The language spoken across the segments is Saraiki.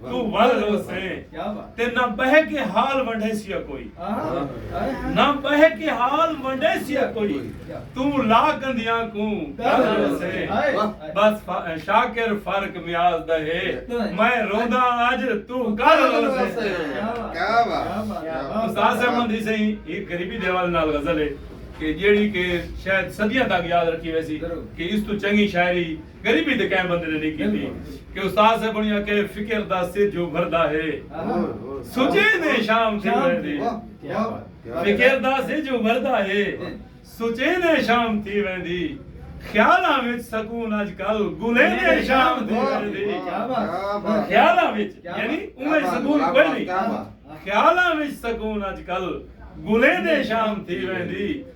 توں ول روسیں تے نہ بہ کے حال ونڈے سیا کوئی نہ بہ کے حال ونڈے سیا کوئی توں لا گندیاں کو گل روسیں بس شاکر فرق میاز دا ہے میں روندا اج تو گل روسیں کیا بات استاد صاحب مندی سے ہی غریبی دیوال نال غزل ہے کہ جیڑی کہ شاید صدیاں تک یاد رکھی ویسی کہ اس تو چنگی شاعری غریبی تے کہیں بندے نے نی کیتی کہ استاد صاحب انہی آکھے فکر دا سجھ ابھردا ہے سچیندے شام تھئی ویندی فکر دا سجھ ابھردا ہے سچیندے شام تھئی ویندی خیالاں وچ سکون اج کل گلیندے شام تھئی ویندی خیالاں وچ یعنی اوے سکون کوئی نہیں خیالاں وچ سکون اج کل گلیندے شام تھئی ویندی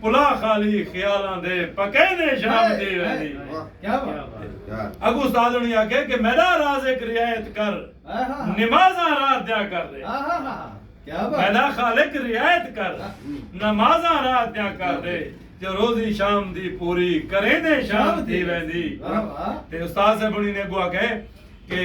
پلا خالی خیالاں دے پکینے شام دی ویلی اگو استاد انہی آکھے کہ میرا رازق رعایت کر نمازاں رات دیا کر دے میرا خالق رعایت کر نمازاں رات دیا کر دے جو روزی شام دی پوری کرینے شام دی ویلی تے استاد سے بڑی نے اگو آکھے کہ